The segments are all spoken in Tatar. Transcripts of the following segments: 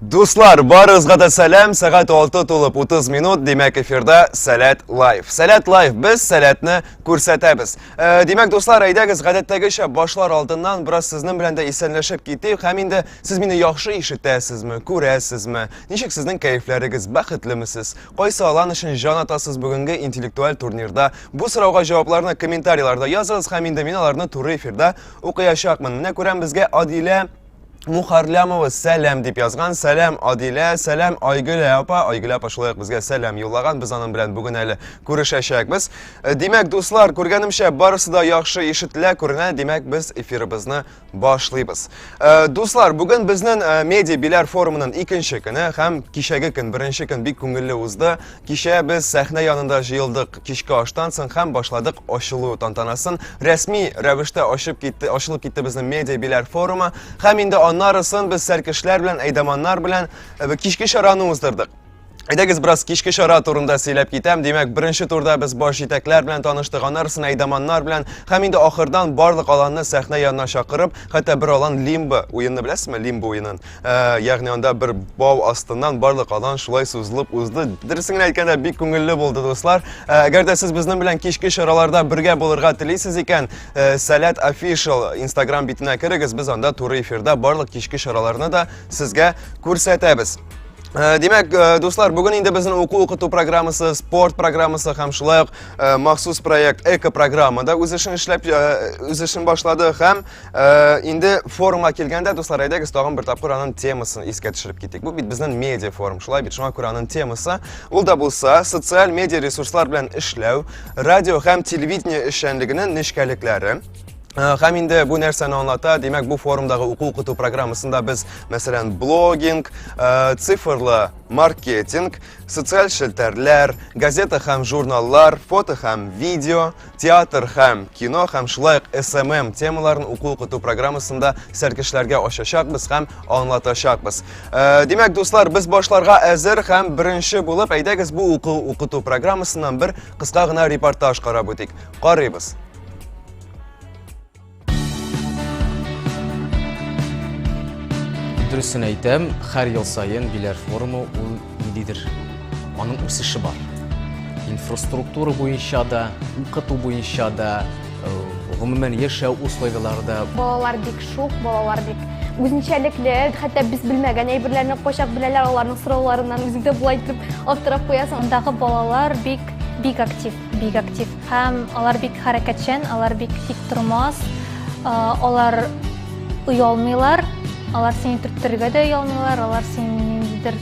Дуслар, барыгызга да сәлам. Сәгать 6 тулып 30 минут, димәк эфирда Сәләт лайф. Сәләт лайф без сәләтне күрсәтәбез. Э, димәк, дуслар, әйдәгез гадәттәгечә башлар алдыннан бераз сезнең белән дә исәнләшеп китик. Һәм инде сез мине яхшы ишетәсезме, күрәсезме? Ничек сезнең кәефләрегез, бәхетлеме сез? Кайсы алан өчен җан атасыз бүгенге интеллектуаль турнирда? Бу сорауга җавапларны комментарийларда языгыз һәм инде мин аларны туры эфирда укыячакмын. Менә күрәм безгә Адилә Мухарлямова сәлам дип язган. Сәлам Адилә, сәлам Айгөлә апа. Айгөлә апа шулай ук безгә сәлам юллаган. Без аның белән бүген әле күрешәчәкбез. Э, димәк, дуслар, күргәнемчә барысы да яхшы ишетелә, күренә. Димәк, без эфирыбызны башлыйбыз. Э, дуслар, бүген безнең э, медиа биләр форумының икенче көне һәм кичәге көн, беренче көн бик күңелле узды. Кичә без сәхнә янында җыелдык, кичке аштан соң һәм башладык ачылу тантанасын. Рәсми рәвештә ачып китте, ачылып китте безнең медиа биләр форумы һәм инде аннарысын без сәркешләр белән, әйдаманнар белән э, кичке чараны уздырдык. Әйдәгез бераз кичке чара турында сөйләп китәм. Димәк, беренче турда без баш җитәкләр белән таныштык, аннарысын әйдаманнар белән һәм инде ахырдан барлык аланны сәхнә янына чакырып, хәтта бер алан лимбо уенны беләсезме? Лимбо уенын. Ә, ягъни анда бер бау астыннан барлык алан шулай сузылып узды. Дөресен генә әйткәндә, бик күңелле булды, дуслар. Ә, әгәр дә сез безнең белән кичке чараларда бергә булырга телисез икән, ә, Сәләт Official Instagram битенә керегез, без анда туры эфирда барлык кичке чараларны да сезгә күрсәтәбез. Э, Димәк, э, дуслар, бүген инде безнең уку укыту программасы, спорт программасы һәм шулай ук э, махсус проект эко-программа да үз эшен эшләп үз эшен башлады һәм Э, инде форумга килгәндә, дуслар, әйдәгез тагын бер тапкыр аның темасын искә төшереп китик. Бу бит безнең медиа форум, шулай бит. Шуңа күрә аның темасы ул да булса социаль медиа ресурслар белән эшләү, радио һәм телевидение эшчәнлегенең нечкәлекләре, Э, һәм инде бу нәрсәне аңлата димәк бу форумдагы уку укыту программасында без мәсәлән блогинг э, цифрлы маркетинг социаль челтәрләр газета һәм журналлар фото һәм видео Театр һәм кино һәм шулай ук СММ темаларын уку-укыту программасында сәркешләргә ачачакбыз һәм аңлатачакбыз. Э, димәк, дуслар, без башларга әзер һәм беренче булып әйдәгез бу уку-укыту программасыннан бер кыска гына репортаж карап үтик. Карыйбыз. Дөресен әйтәм, хәр ел саен Биләр форумы ул ниндидер аның үсеше бар. Инфраструктура буенча да, укыту буенча да, э, гомумән яшәү условияләре дә. Балалар бик шук, балалар бик үзенчәлекле, хәтта без белмәгән әйберләрне кайчак беләләр, аларның сорауларыннан үзең дә булай итеп аптырап куясың. Андагы балалар бик бик актив. Бик актив. Һәм алар бик хәрәкәтчән, алар бик тик тормас. Алар оялмыйлар, алар сине төрттерергә дә оялмыйлар, алар сине ниндидер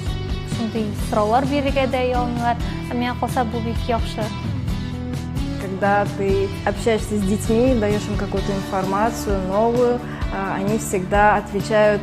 шундый сораулар бирергә дә оялмыйлар. Ә миңа калса бу бик яхшы. Когда ты общаешься с детьми, даешь им какую-то информацию новую, они всегда отвечают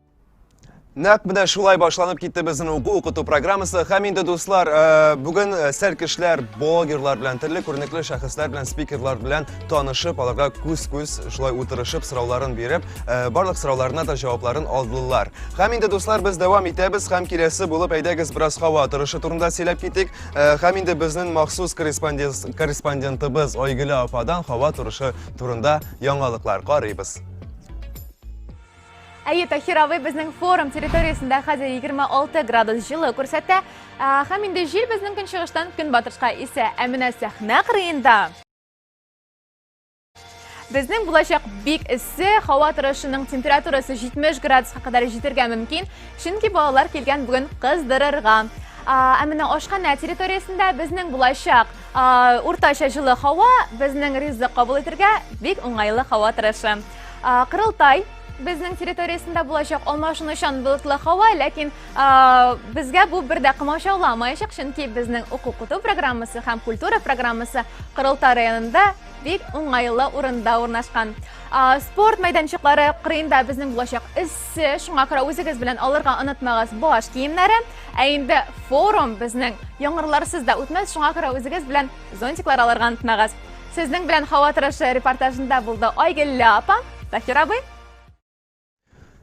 Нәкъ менә шулай башланып китте безнең уку укыту программасы. Һәм инде дуслар, э, бүген э, сәр кешеләр, блогерлар белән, төрле күренекле шәхесләр белән, спикерлар белән танышып, аларга күз-күз шулай утырышып, сорауларын биреп, э, барлык сорауларына да җавапларын алдылар. Һәм инде дуслар, без дәвам итәбез һәм киләсе булып әйдәгез бераз һава торышы турында сөйләп китик. Һәм инде безнең махсус корреспондентыбыз Айгөлә ападан һава торышы турында яңалыклар карыйбыз. Әйе, Тахир абый безнең форум территориясендә хәзер 26 градус җылы күрсәтә. Һәм инде җил безнең көнчыгыштан көнбатышка исә. Ә менә сәхнә кырыенда безнең булачак бик эссе, һава торышының температурасы 70 градуска кадәр җитергә мөмкин, чөнки балалар килгән бүген кыздырырга. Ә менә ашханә территориясендә безнең булачак уртача җылы һава безнең ризык кабул итергә бик уңайлы һава торышы. Кырылтай безнең территориясендә булачак алмашынучан болытлы һава, ләкин безгә бу бер дә комачауламаячак, чөнки безнең уку-куту программасы һәм культура программасы Кырылта районында бик уңайлы урында урнашкан. Спорт мәйданчыклары кырыенда безнең булачак эссе, шуңа күрә үзегез белән алырга онытмагыз баш киемнәре. Ә инде форум безнең яңгырларсыз да үтмәс, шуңа күрә үзегез белән Зонтиклар алырга онытмагыз. Сезнең белән һава торышы репортажында булды Айгелле апа, Таһир абый.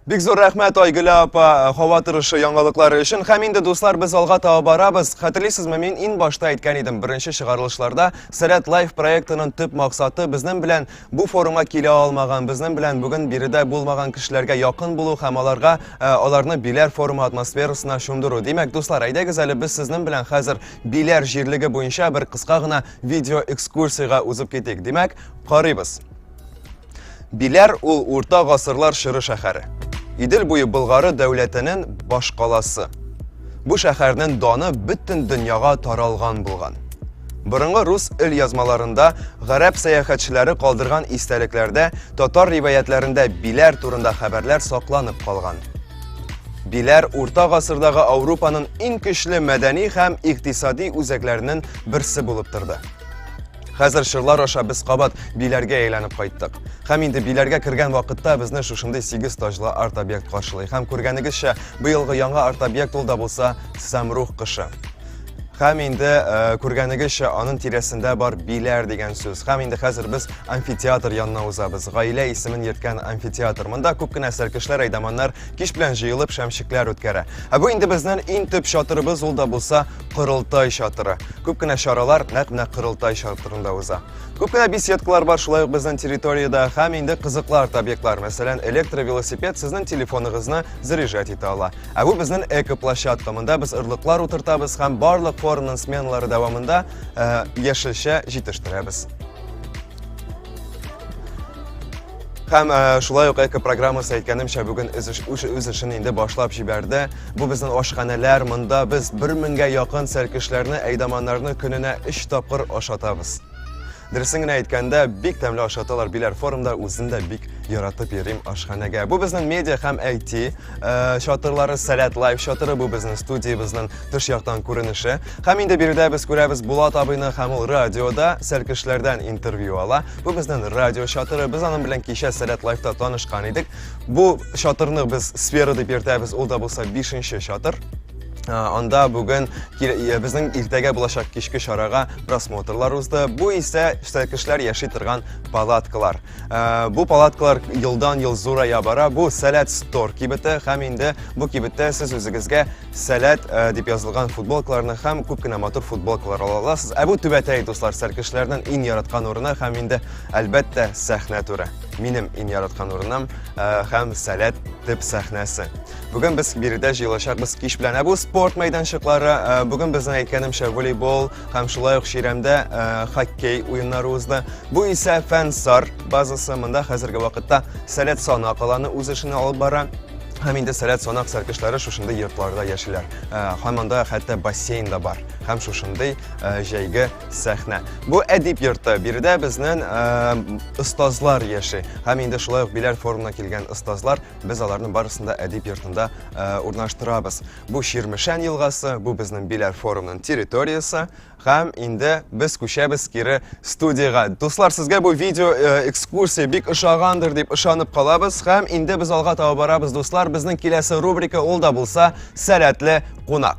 Бик зур рәхмәт Айгөлә апа э, һава торышы яңалыклары өчен. Һәм инде дуслар без алга таба барабыз. Хәтерлисезме, мин ин башта әйткән идем, беренче чыгарылышларда Сәләт лайф проектының төп максаты безнең белән бу форумга килә алмаган, безнең белән бүген биредә булмаган кешеләргә якын булу һәм аларга э, аларны биләр форумы атмосферасына чумдыру. Димәк, дуслар, әйдәгез әле без сезнең белән хәзер Биләр җирлеге буенча бер кыска гына видео экскурсиягә узып китик. Димәк, карыйбыз. Биләр ул урта гасырлар чоры шәһәре. Идел буе Болгары дәүләтенең башкаласы. Бу шәһәрнең даны бөтен дөньяга таралган булган. Борынгы рус ил язмаларында, гарәп сәяхәтчеләре калдырган истәлекләрдә, татар риваятләрендә биләр турында хәбәрләр сакланып калган. Биләр урта гасырдагы Ауропаның иң көчле мәдәни һәм икътисади үзәкләренең берсе булып торды. Хәзер шырлар аша без кабат биләргә әйләнеп кайттык. Һәм инде биләргә кергән вакытта безне шушындый сигез таҗлы арт-объект каршылый. Һәм күргәнегезчә, быелгы яңа арт-объект ул да булса Самрух кышы. Хәм инде э, күргәнегезчә аның тирәсендә бар биләр дигән сүз. Хәм инде хәзер без амфитеатр янына узабыз. Гаилә исемен йөрткән амфитеатр. Монда күп кенә сәркешләр, әйдаманнар кич белән җыелып шәмчекләр үткәрә. Ә бу инде безнең иң төп чатырыбыз, ул да булса корылтай чатыры. Күп кенә чаралар нәкъ менә корылтай чатырында уза. Күп кенә беседкалар бар шулай ук безнең территориядә һәм инде кызыклар объектлар, мәсәлән, электровелосипед сезнең телефоныгызны заряжать итә ала. Ә бу безнең экоплощадка. Монда без ырлыклар утыртабыз һәм барлык форумның сменалары дәвамында э, яшелчә җитештерәбез. Һәм э, шулай ук эко программасы әйткәнемчә бүген үз эшен инде башлап җибәрде. Бу безнең ашханәләр, монда без 1000 меңгә якын сәркешләрне, әйдаманнарны көненә 3 тапкыр ашатабыз. Дөресен генә әйткәндә, бик тәмле ашаталар Биләр форумда, үзем дә бик яратып йөрим ашханәгә. Бу безнең медиа һәм IT э, чатырлары, Сәләт лайв чатыры, бу безнең студиябезнең тыш яктан күренеше. Һәм инде биредә без күрәбез Булат абыйны һәм ул радиода сәлкешләрдән интервью ала. Бу безнең радио чатыры, без аның белән кичә Сәләт лайвта танышкан идек. Бу чатырны без сфера дип йөртәбез, ул да булса 5 чатыр. Анда бүген безнең иртәгә булачак кичке чарага просмотрлар узды. Бу исә кешеләр яши торган палаткалар. Бу палаткалар елдан-ел зурая бара. Бу Сәләт стор кибете һәм инде бу кибеттә сез үзегезгә Сәләт дип язылган футболкаларны һәм күп кенә матур футболкалар ала аласыз. Ә бу түбәтәй дуслар сәркешләрнең иң яраткан урыны һәм инде әлбәттә сәхнә туры. Минем иң яраткан урыным һәм Сәләт төп сәхнәсе. Бүген без биредә җыелачакбыз. Кич белән ә бу спорт мәйданчыклары. Э, бүген безнең әйткәнемчә волейбол һәм шулай ук чирәмдә э, хоккей уеннары узды. Бу исә Фәнсар базасы. Монда хәзерге вакытта Сәләт санак аланы үз эшен алып бара. Һәм инде сәләт санак сәркешләре шушындый йортларда яшиләр. Э, һәм анда хәтта бассейн да бар. Һәм шушындый э, җәйге сәхнә. Бу әдип йорты. Биредә безнең э, остазлар яши. Һәм инде шулай ук биләр форумына килгән остазлар Без аларның барысын да әдип йортында урнаштырабыз. Бу Чирмешән елгасы, бу безнең Биләр форумның территориясе. Һәм инде без күчәбез кире студиягә. Дуслар, сезгә бу видео экскурсия бик ошагандыр дип ышанып калабыз. Һәм инде без алга таба барабыз, дуслар. Безнең киләсе рубрика ул да булса Сәләтле кунак.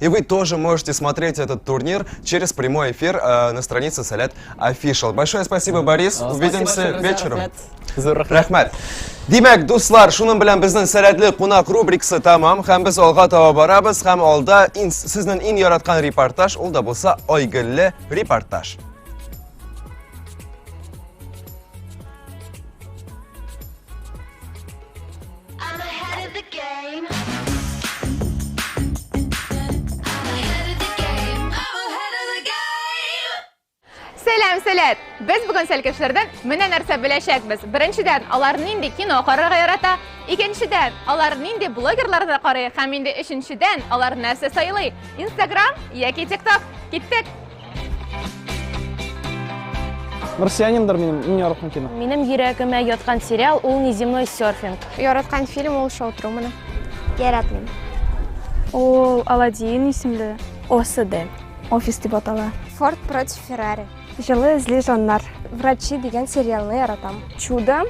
И вы тоже можете смотреть этот турнир через прямой эфир э, на странице Салят Official. Большое спасибо, Борис. Э, Увидимся спасибо, вечером. Рахмат. Димәк, дуслар, шуның белән безнең сәләтле кунак рубрикасы тамам, һәм без алга таба барабыз, һәм алда сезнең иң яраткан репортаж, ул да булса Айгөлле репортаж. Сәлам, сәләт! Без бүген сәлкешләрдән менә нәрсә беләчәкбез. Беренчедән, алар нинди кино карарга ярата, икенчедән, алар нинди блогерларны карый һәм инде өченчедән, алар нәрсә сайлый? Instagram яки TikTok? Киттек! Марсианиндар минем иң яраткан кино. Минем йөрәгемә яткан сериал ул Неземной серфинг. Яраткан фильм ул Шоу Трумана. Яратмыйм. Ул Аладдин исемле. ОСД. Офис дип атала. Форд против Феррари. Җылы эзли жаннар. Врачи дигән сериалны яратам. Чудо.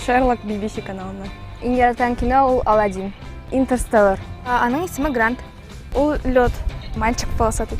Шерлок BBC каналына. Иң яраткан кино ул Аладдин. Интерстеллар. Аның исеме Грант. Ул лед. Мальчик полосатый.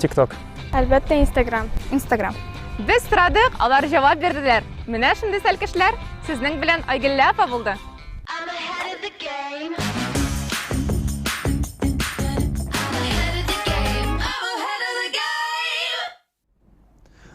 Тикток. Әлбәттә, Инстаграм. Инстаграм. Без сорадык, алар җавап бирделәр. Менә шундый сәлкешләр. Сезнең белән Айгеллә апа булды.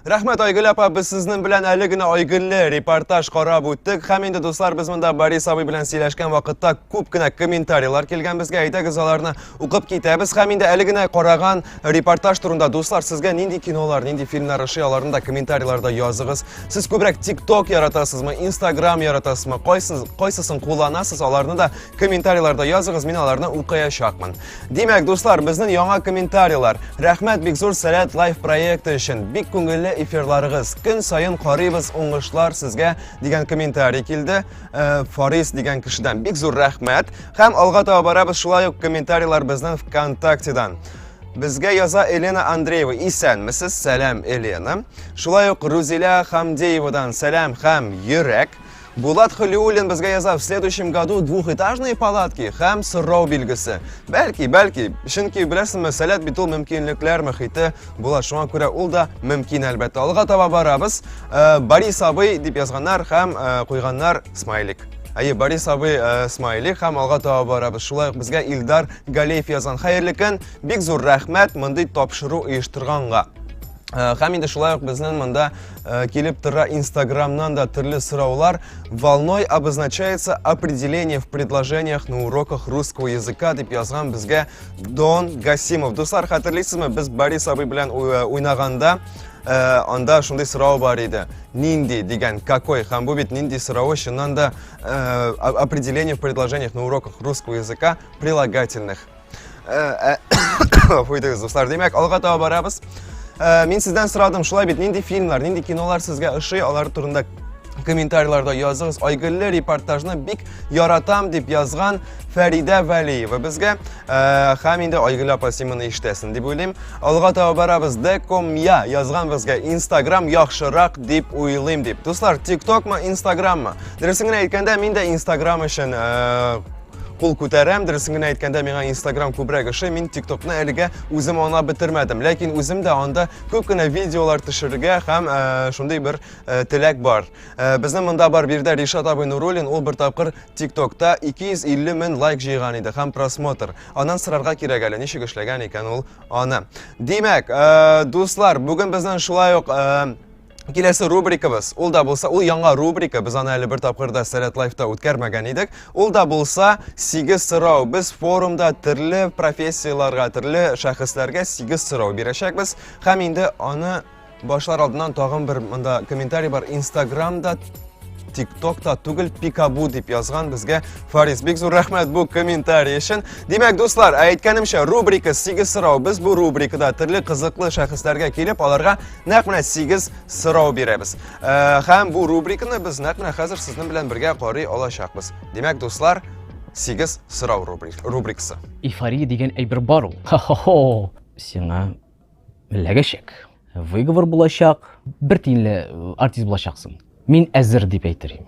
Рәхмәт, Айгөл апа, без сезнең белән әле генә Айгөлле репортаж карап үттек. Һәм инде, дуслар, без монда Борис абый белән сөйләшкән вакытта күп кенә комментарийлар килгән безгә. Әйдәгез, аларны укып китәбез. Һәм инде әле генә караган репортаж турында, дуслар, сезгә нинди кинолар, нинди фильмнар ошый, аларны да комментарийларда языгыз. Сез күбрәк TikTok яратасызмы, Instagram яратасызмы, кайсыз, кайсысын кулланасыз, аларны да комментарийларда языгыз, мин аларны укыячакмын. Димәк, дуслар, безнең яңа комментарийлар. Рәхмәт бик зур Сәләт лайф проекты өчен. Бик күңелле эфирларыгыз. Көн саен карыйбыз, уңышлар сезгә дигән комментарий килде. Э, Фарис дигән кешедән бик зур рәхмәт. Һәм алга таба барабыз шулай ук комментарийлар безнең ВКонтактедан. Безгә яза Елена Андреева. Исәнмесез, сәлам Елена. Шулай ук Рузиля Хамдеевадан сәлам һәм йөрәк. Булат Хөлиуллин безгә яза, в следующем году двухэтажные палатки һәм сорау билгесе. Бәлки, бәлки, чөнки беләсеңме, сәләт бит ул мөмкинлекләр мөхите була. Шуңа күрә ул да мөмкин әлбәттә. Алга таба барабыз. Э, Борис абый дип язганнар һәм э, куйганнар смайлик. Әйе, Борис абый э, смайли һәм алга таба барабыз. Шулай ук безгә Илдар Галеев язган. Хәерле көн. Бик зур рәхмәт мондый тапшыру оештырганга. Э, һәм инде шулай ук безнең монда э, килеп тора инстаграмнан да төрле сораулар волной обозначается определение в предложениях на уроках русского языка дип язган безгә дон гасимов дуслар хәтерлисезме без борис абый белән э, уйнаганда Э, анда шундый сорау бар иде нинди дигән какой һәм бу бит нинди соравы чыннан да э, определение в предложениях на уроках русского языка прилагательных Фуйдыгыз, дуслар. Димәк, алга таба барабыз. Э, мин сездән сорадым, шулай бит, нинди фильмнар, нинди кинолар сезгә ошый, алар турында комментарийларда языгыз. Айгөлле репортажны бик яратам дип язган Фәридә Вәлиева безгә э, һәм инде Айгөл апа син моны ишетәсең дип уйлыйм. Алга таба барабыз. Декомя язган безгә Instagram яхшырак дип уйлыйм дип. Дуслар, TikTok-мы, Instagram-мы? Дөресен генә әйткәндә, мин дә Instagram өчен э, Кул күтәрәм, дөресен генә әйткәндә, миңа Instagram күбрәк ошый. Мин TikTokны әлегә үзем аңлап бетермәдем, ләкин үзем дә анда күп кенә видеолар төшерергә һәм э, шундый бер э, теләк бар. Э, безнең монда бар биредә Ришат абый Нуруллин, ул бер тапкыр TikTokта 250 мең лайк җыйган иде һәм просмотр. Аннан сорарга кирәк әле, ничек эшләгән икән ул аны. Димәк, дуслар, бүген безнең шулай ук Киләсе рубрикабыз, ул да булса, ул яңа рубрика, без аны әле бер тапкырда Сәләт Лайфта үткәрмәгән идек. Ул да булса, сигез сорау. Без форумда төрле профессияләргә, төрле шәхесләргә сигез сорау бирәчәкбез. Һәм инде аны башлар алдыннан тагын бер монда комментарий бар. Инстаграмда тиктокта түгел пикабу дип язган безгә фарис бик зур рәхмәт бу комментарий өчен димәк дуслар ә әйткәнемчә рубрика сигез сорау без бу рубрикада төрле кызыклы шәхесләргә килеп аларга Нәкъ менә 8 сорау бирәбез. Э, һәм бу рубриканы без нәкъ менә хәзер сезнең белән бергә карый алачакбыз. Димәк, дуслар, 8 сорау рубрикасы. Эйфория дигән әйбер бар ул. Хо-хо-хо. Сиңа ләгәшәк. Выговор булачак. Бер тиенле э, артист булачаксың. Мин әзер дип әйтер идем.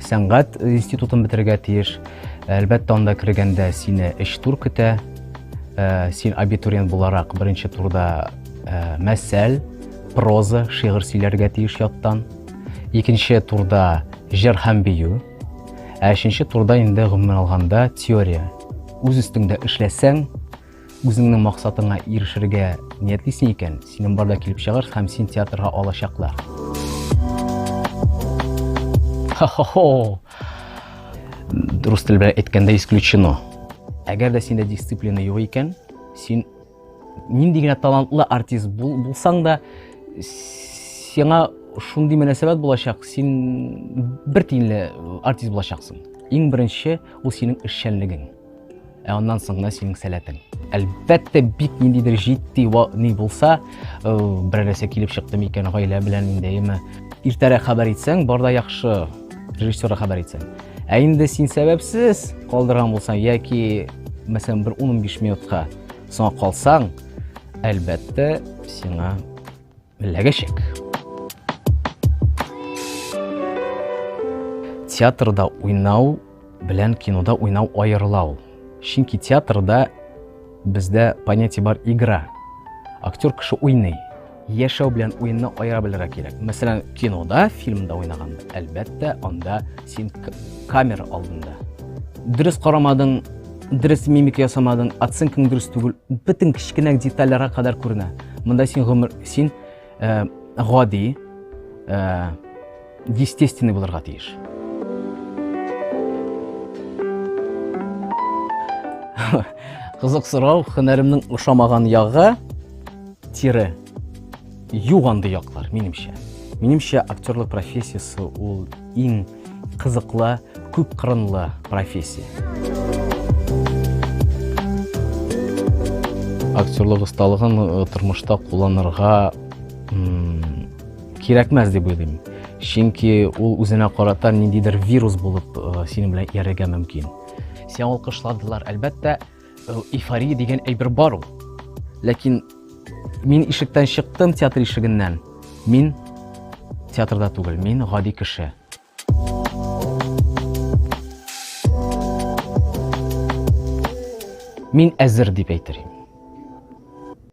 Сәнгать институтын бетерергә тиеш. Әлбәттә, анда кергәндә сине эш тур көтә. Э, син абитуриент буларак беренче турда э, мәсәл, проза, шигырь сөйләргә тиеш яттан. Икенче турда җыр һәм бию. Ә өченче турда инде гомумән алганда теория. Үз өстеңдә эшләсәң, Үзеңнең максатыңа ирешергә ниятлисең икән, синең барда килеп чыгар һәм син театрга алачаклар. Хо-хо-хо! Дөрес тел белән әйткәндә исключено. Әгәр дә синдә дисциплина юк икән, син нинди генә талантлы артист булсаң да, сиңа шундый мөнәсәбәт булачак, син бер тиенле артист булачаксың. Иң беренче ул синең эшчәнлегең. Ә аннан соң гына синең сәләтең. Әлбәттә, бик ниндидер җитди ни булса, э, бер нәрсә килеп чыкты микән гаилә белән ниндәеме. Иртәрәк хәбәр итсәң, барда яхшы режиссерга хәбәр итсәң. Ә инде син сәбәпсез калдырган булсаң яки, мәсәлән, бер 10-15 минутка соңга калсаң, әлбәттә, сиңа Беләгәчәк. Театрда уйнау белән кинода уйнау аерыла ул. Чөнки театрда бездә понятие бар игра. Актер кеше уйный. Яшәү белән уенны аера белергә кирәк. Мәсәлән, кинода, фильмда уйнаганда, әлбәттә, анда син камера алдында. Дөрес карамадың, дөрес мимика ясамадың, оценкаң дөрес түгел, бөтен кечкенә детальләргә кадәр күренә. Монда син гомер син э, гади, э, естественный булырга тиеш. Кызык сорау, хөнәремнең ошамаган ягы тире юганды яклар, минемчә. Минемчә актерлык профессиясе ул иң кызыклы, күп кырынлы профессия. Актерлык осталыгын э, тормышта кулланырга кирәкмәс дип уйлыйм. Чөнки ул үзенә карата ниндидер вирус булып э, синең белән иярергә мөмкин. Сиңа алкышладылар, әлбәттә, Эйфория дигән әйбер бар ул. Ләкин мин ишектән чыктым театр ишегеннән. Мин театрда түгел, мин гади кеше. Мин әзер дип әйтер идем.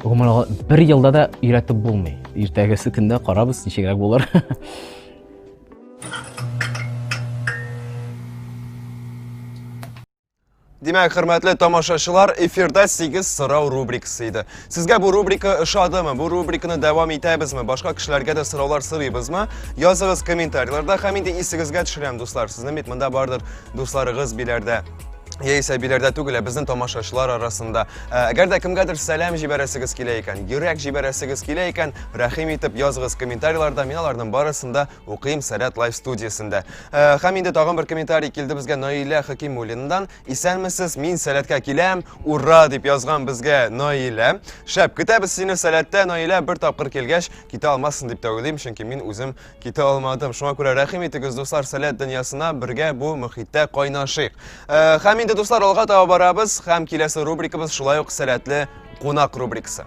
Гомумән алган, бер елда да өйрәтеп булмый. Иртәгесе көндә карабыз, ничегрәк булыр. Димәк, хөрмәтле тамашачылар, эфирда 8 сорау рубрикасы иде. Сезгә бу рубрика ошадымы? Бу рубриканы дәвам итәбезме? Башка кешеләргә дә сораулар сорыйбызмы? Языгыз комментарийларда һәм инде исегезгә төшерәм, дуслар. Сезнең бит монда бардыр дусларыгыз биләрдә. яисә биләрдә түгел, ә безнең тамашачылар арасында. Ә, әгәр дә кемгәдер сәлам җибәрәсегез килә икән, йөрәк җибәрәсегез килә икән, рәхим итеп языгыз комментарийларда, мин аларның барысын да укыйм Сәләт лайф студиясендә. Ә, һәм инде тагын бер комментарий килде безгә Наилә Хакимуллиндан. Исәнмесез, мин Сәләткә киләм, ура дип язган безгә Наилә. Шәп, көтәбез сине Сәләттә, Наилә, бер тапкыр килгәч, китә алмассың дип тә уйлыйм, чөнки мин үзем Китә алмадым. Шуңа күрә рәхим итегез, дуслар, сәләт дөньясына бергә бу мөхиттә кайнашыйк. Э, һәм инде дуслар алга таба барабыз һәм киләсе рубрикабыз шулай ук сәләтле кунак рубрикасы.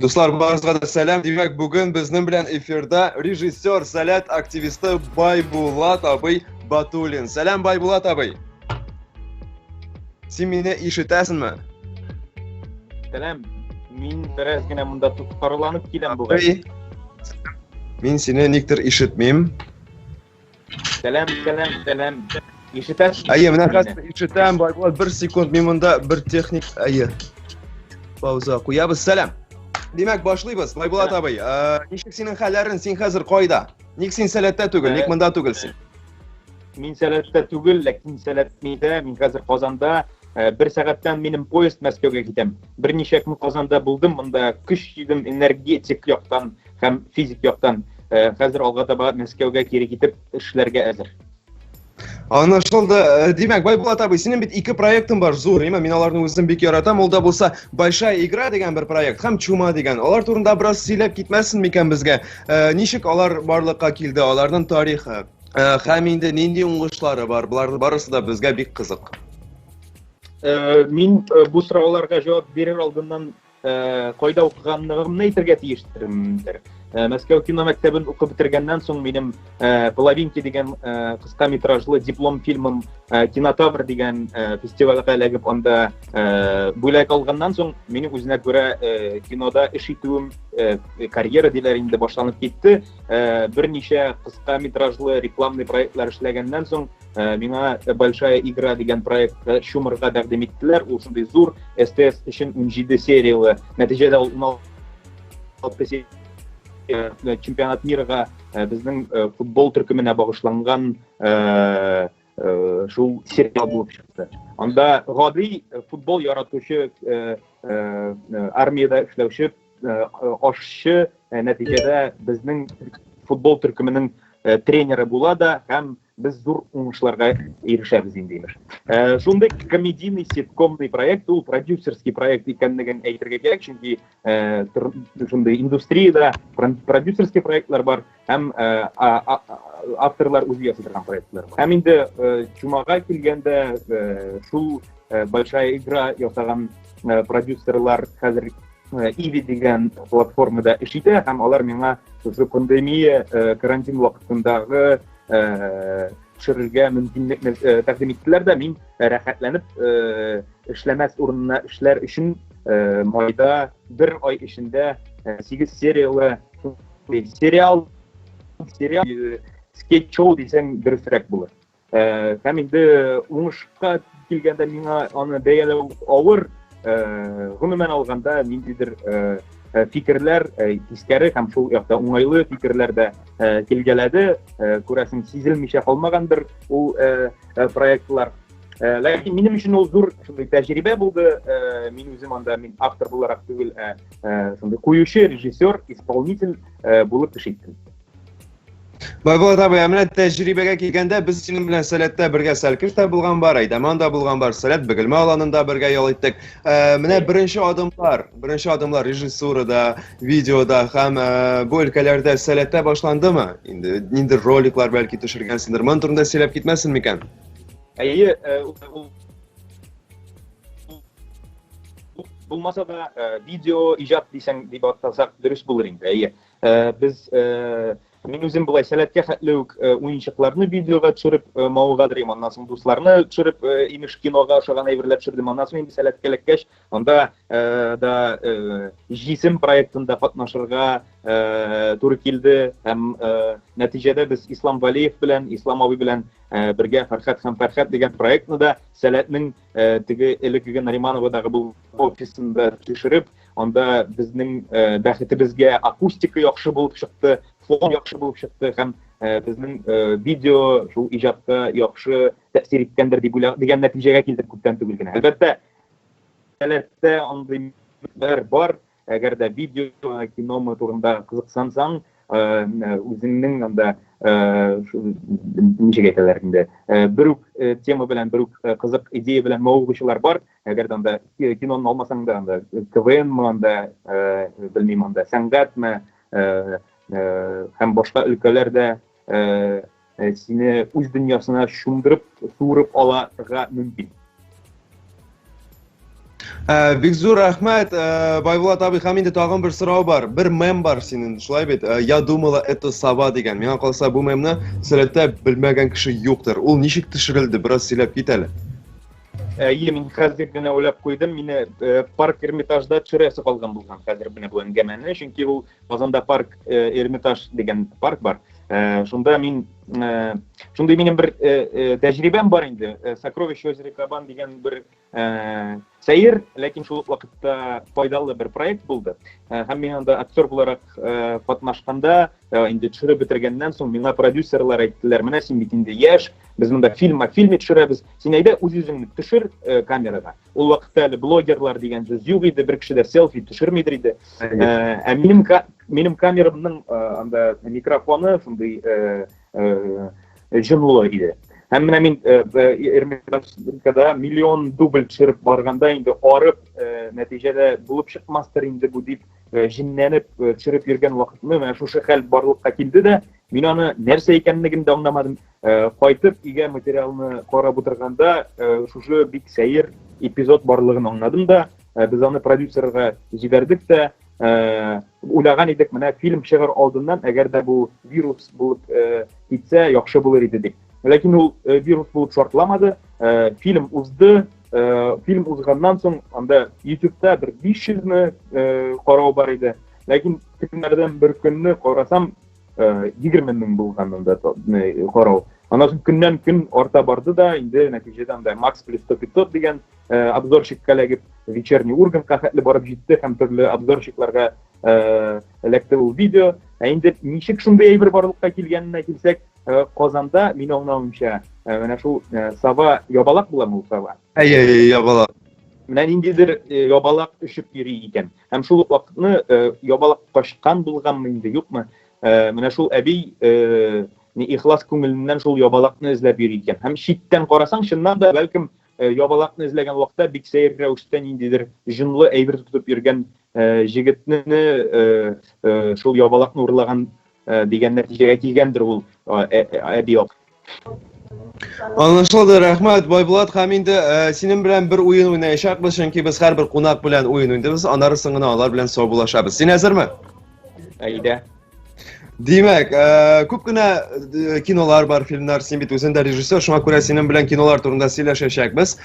Дуслар, барыгызга да сәлам. Димәк, бүген безнең белән эфирда режиссер, сәләт активисты Байбулат абый Батулин. Сәлам, Байбулат абый. Син мине ишетәсеңме? Сәлам. Мин бераз генә монда тоткарланып киләм бүген. Мин сине никтер ишетмим. Сәлам, сәлам, сәлам. Ишетәсез? Әйе, менә хәзер ишетәм, Байбулат, бер секунд, мин монда бер техник, әйе. Пауза куябыз. Сәлам. Димәк, башлыйбыз. Байбулат абый, э, ничек синең хәлләрең? Син хәзер кайда? Ник син сәләттә түгел? Ник э, монда түгелсең? Мин сәләттә түгел, ләкин сәләтмидә, мин хәзер Казанда. Э, бер сәгатьтән минем поезд Мәскәүгә китәм. Берничә көн Казанда булдым, монда көч җыйдым, энергетик яктан һәм физик яктан э, хәзер алга таба Мәскәүгә кире китеп эшләргә әзер. Анашылды. Э, Димәк, Байбулат абый, синең бит ике проектың бар, зур, яме, мин аларны үзем бик яратам. Ул да булса Большая игра дигән бер проект һәм Чума дигән. Алар турында бераз сөйләп китмәсен микән безгә? Э, ничек алар барлыкка килде, аларның тарихы? Э, һәм инде нинди уңышлары бар? Булар барысы да безгә бик кызык. Мин бу сорауларга җавап бирер алдыннан Кайда укыганлыгымны әйтергә тиештер. Мәскәү кино мәктәбен укып бетергәннән соң минем Половинки дигән кыска метражлы диплом фильмым Кинотавр дигән фестивальгә эләгеп анда бүләк алганнан соң мине үзенә күрә кинода эш итүем карьера диләр инде башланып китте. Берничә кыска метражлы рекламный проектлар эшләгәннән соң ә, миңа большая игра дигән проектта чумырга тәкъдим иттеләр ул шундый зур стс өчен унҗиде серияле нәтиҗәдә ул уналты э, чемпионат мирга э, безнең э, футбол төркеменә багышланган шул сериал булып чыкты анда гади футбол яратучы армияда эшләүче ашчы нәтиҗәдә безнең футбол төркеменең тренеры була да һәм Без зур уңышларга ирешәбез инде, имеш. Ә, шундый комедийный, ситкомный проект, ул продюсерский проект икәнлеген әйтергә кирәк, чөнки ә, тор, шундый индустриядә продюсерский проектлар бар, һәм ә, а, а, авторлар үзе ясый торган проектлар бар. Һәм инде ә, чумага килгәндә ә, шул ә, большая игра ясаган ә, продюсерлар хәзер Э, иви дигән платформада эш итә һәм алар миңа шушы пандемия э, карантин вакытындагы төшерергә мөмкинлекне тәкъдим иттеләр дә мин рәхәтләнеп эшләмәс урынына эшләр өчен майда бер ай эчендә сигез сериялы сериал сериал скетч шоу дисәң дөресрәк булыр һәм инде уңышка килгәндә миңа аны бәяләү авыр э, гомумән алганда ниндидер э, э, фикерләр тискәре һәм шул якта уңайлы фикерләр дә килгәләде күрәсең сизелмичә калмагандыр ул проектлар ләкин минем өчен ул зур шундый тәҗрибә булды мин үзем анда мин автор буларак түгел ә шундый куючы режиссер исполнитель булып эш иттем Байболат абый, ә менә тәҗрибәгә килгәндә, без синең белән Сәләттә бергә Сәлкеш тә булган бар, Әйдәман да булган бар, Сәләт Бөгелмә аланында бергә ял иттек. Ә, менә беренче адымлар, беренче адымлар режиссурада, видеода һәм ә, бу өлкәләрдә Сәләттә башландымы? Инде ниндер роликлар бәлки төшергәнсеңдер. Моның турында сөйләп китмәсен микән? Әйе, э, булмаса да э, видео иҗат дисәң дип атасак дөрес булыр инде. Әйе. Э, без э, мин үзем болай сәләткә хәтле үк э, уенчыкларны видеога төшереп мавыга дөрим аннан соң дусларны төшереп имеш кинога ошаган әйберләр төшердем аннан соң инде сәләткә эләккәч анда да җисем проектында катнашырга туры килде һәм нәтиҗәдә без ислам валиев белән ислам абый белән бергә фәрхәт һәм фәрхәт дигән проектны да сәләтнең э, теге элеккеге Наримановадагы бу офисында төшереп, анда безнең э, бәхетебезгә акустика яхшы булып чыкты, фон яхшы булып чыкты һәм э, безнең э, видео шул иҗатка яхшы тәэсир иткәндер дип уйлап дигән нәтиҗәгә килдек күптән түгел генә. Әлбәттә, әлбәттә андый бар, Әгәр дә видео киномы турында кызыксансаң, үзеңнең анда ничек әйтәләр инде, бер үк тема белән, бер үк кызык идея белән мавыгучылар бар. Әгәр дә анда киноны алмасаң да, анда КВНмы анда, белмим анда сәнгатьме, һәм башка өлкәләрдә э, э, сине үз дөньясына чумдырып, суырып аларга мөмкин. Э, бик зур рәхмәт, э, Байбулат абый, һәм инде тагын бер сорау бар. Бер мем бар синең, шулай бит? Э, Я думала, это сова дигән. Миңа калса, бу мемны сәләттә белмәгән кеше юктыр. Ул ничек төшерелде? Бераз сөйләп кит әле. Әйе, мин хәзер генә уйлап куйдым, мине парк Эрмитажда төшерәсе калган булган хәзер менә бу әңгәмәне, чөнки ул Казанда парк э, Эрмитаж дигән парк бар. Э, шунда мин э, шундый минем бер тәҗрибәм бар инде. Сокровище озера Кабан дигән бер сәер, ләкин шул вакытта файдалы бер проект булды. Һәм мин анда актер буларак катнашканда, инде төшереп бетергәннән соң миңа продюсерлар әйттеләр, менә син бит инде яшь, без монда фильм, фильм төшерәбез. Син әйдә үз-үзеңне төшер камерага. Ул вакытта әле блогерлар дигән сүз юк иде, бер кеше дә селфи төшермидер иде. Ә минем минем камерамның анда микрофоны шундый җынлы иде. Һәм менә мин Эрмитажда миллион дубль төшереп барганда инде арып, нәтиҗәдә булып чыкмастыр инде бу дип җенләнеп төшереп йөргән вакытны менә шушы хәл барлыкка килде дә, мин аны нәрсә икәнлеген дә аңламадым. Э, кайтып өйгә материалны карап утырганда э, шушы бик сәер эпизод барлыгын аңладым да э, без аны продюсерга җибәрдек тә уйлаган идек менә фильм чыгар алдыннан әгәр дә бу вирус булып китсә яхшы булыр иде дип ләкин ул вирус булып шартламады фильм узды фильм узганнан соң анда ютубта бер биш йөзне карау бар иде ләкин көннәрдән бер көнне карасам 20 мең булган анда карау. Аннан соң көннән көн арта барды да, инде нәтиҗәдә анда Макс плюс 100-500 дигән обзорщикка эләгеп, вечерний Ургантка хәтле барып җитте һәм төрле обзорщикларга эләкте ул видео. Ә инде ничек шундый әйбер барлыкка килгәненә килсәк, Казанда, мин аңлавымча, менә шул Сава ябалак буламы ул Сава? Әйе, ябалак. Менә ниндидер ябалак очып йөри икән. Һәм шул ук вакытны ябалак качкан булганмы инде, юкмы, менә шул әби ни ихлас күңеленнән шул ябалакны эзләп йөри икән. Һәм читтән карасаң, чыннан да, бәлкем, ябалакны эзләгән вакытта бик сәер рәвештә ниндидер җонлы әйбер тотып йөргән җегетне шул ябалакны урлаган дигән нәтиҗәгә килгәндер ул әби ак. Аңлашылды, рәхмәт, Байбулат һәм инде э, синең белән бер уен уйнаячакбыз, чөнки без һәрбер кунак белән уен уйныйбыз, аннары соң гына алар белән саубуллашабыз. Син әзерме? Әйдә. Димәк, э, күп кенә э, кинолар бар, фильмнар, син бит үзең дә режиссер, шуңа күрә синең белән кинолар турында сөйләшәчәкбез.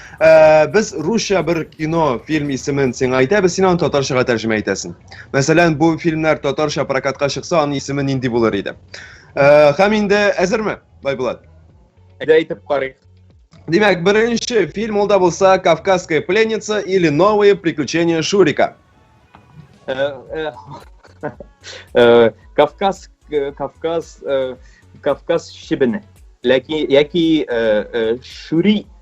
Без русча бер кино, фильм исемен сиңа әйтәбез, син аны татарчага тәрҗемә итәсең. Мәсәлән, бу фильмнар татарча прокатка чыкса, аның исеме нинди булыр иде? Э, һәм инде әзерме, Байбулат? Әйдә әйтеп карыйк. Димәк, беренче фильм ул да булса Кавказская пленница или новые приключения Шурика. Э, э, э, Кавказ Кавказ Кавказ шибене. Ләки яки Шури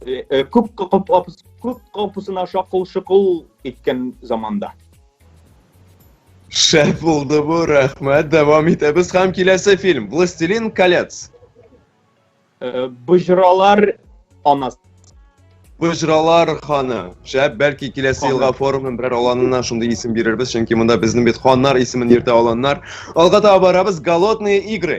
Э, э, күк капысына шакыл шокол иткән заманда шәп булды бу рәхмәт дәвам итәбез һәм киләсе фильм властелин колец э, боҗралар анасы Быжралар ханы. Шәп, бәлки киләсе елга форумның берәр аланына шундый исем бирербез, чөнки монда безнең бит ханнар исемен йөртә аланнар. Алга таба барабыз, голодные игры.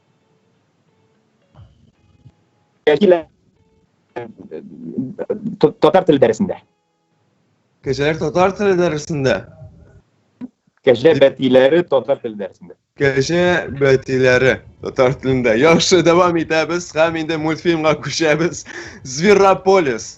Кәкилә татар теле дәресендә. Кәҗәләр татар теле дәресендә. Кәҗә бәтиләре татар теле дәресендә. Кәҗә бәтиләре татар телендә. Яхшы, дәвам итәбез һәм инде мультфильмга күчәбез. Зверополис.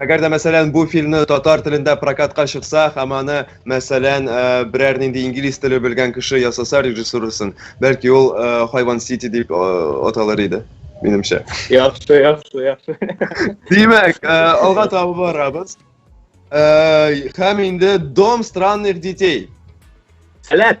Әгәр дә, мәсәлән, бу фильмны татар телендә прокатка чыкса, һәм аны, мәсәлән, э, берәр нинди инглиз теле белгән кеше ясаса режиссурасын, бәлки ул э, Хайван Сити дип э, аталыр иде, минемчә. Яхшы, яхшы, яхшы. Димәк, э, алга таба барабыз. Э, һәм инде Дом странных детей. Сәләт!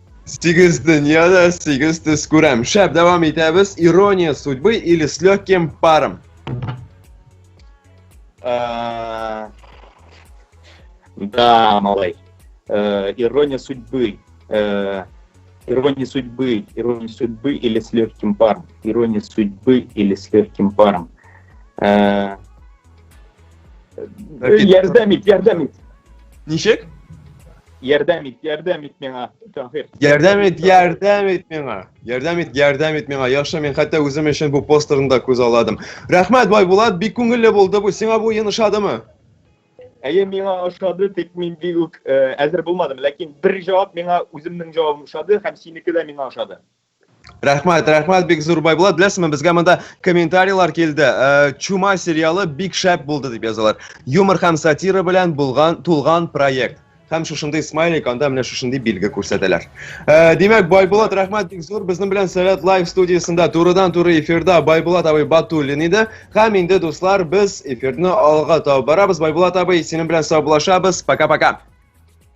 Сигез дөньяны, сигез төс күрәм. Шәп, дәвам итәбез. Ирония судьбы или с легким паром? Э, да, малай. Э, ирония судьбы. Э, ирония судьбы. Ирония судьбы или с легким паром. Ирония судьбы или с легким паром. Ярдәм ит, ярдәм ит. Ничек? Ярдәм ит, ярдәм ит миңа, Таһир. Ярдәм ит, ярдәм ит миңа. Ярдәм ит, ярдәм ит миңа. Яхшы, мин хәтта үзем өчен бу постерны да күз аладым. Рәхмәт, Байбулат, бик күңелле булды бу. Сиңа бу уен ошадымы? Әйе, миңа ошады, тик мин бик үк әзер булмадым, ләкин бер җавап миңа үземнең җавабым ошады һәм синеке дә миңа ошады. Рәхмәт, рәхмәт бик зур Байбулат. Беләсезме, безгә монда комментарийлар килде. Э, Чума сериалы бик шәп булды дип язалар. Юмор һәм сатира белән булган тулган проект. Һәм шушындый смайлик, анда менә шушындый билге күрсәтәләр. Э, Димәк, Байбулат, рәхмәт бик зур. Безнең белән Сәләт Лайв студиясендә турыдан туры эфирда Байбулат абый Батуллин иде. Һәм инде дуслар, без эфирны алга табарабыз. Байбулат абый, синең белән саубулашабыз. Пока-пока.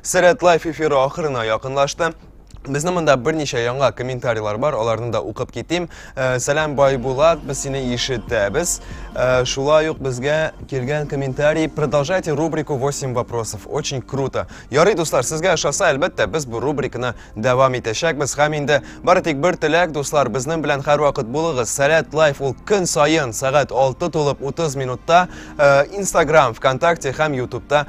Сәләт лайф эфиры ахырына якынлашты. Безнең монда берничә яңа комментарийлар бар, аларны да укып китим. Э, Сәлам Байбулат, без сине ишетәбез. Э, шулай ук безгә килгән комментарий. Продолжайте рубрику 8 вопросов. Очень круто. Ярый, дуслар, сезгә ошаса, әлбәттә, без бу рубриканы дәвам итәчәкбез. Һәм инде бары тик бер теләк, дуслар, безнең белән һәрвакыт булыгыз. Сәләт лайф ул көн саен сәгать 6 тулып 30 минутта э, Instagram, ВКонтакте һәм Ютубта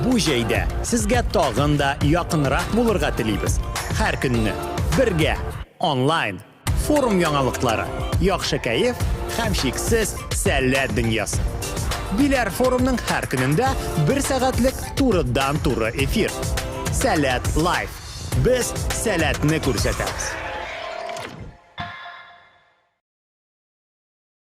Бу җәйдә сезгә тагын да якынрак булырга телибез. Һәр көнне бергә онлайн форум яңалыклары, яхшы кәеф һәм шиксез сәләт дөньясы. Биләр форумның һәр көнендә бер сәгатьлек турыдан-туры эфир. Сәләт лайф. Без сәләтне күрсәтәбез.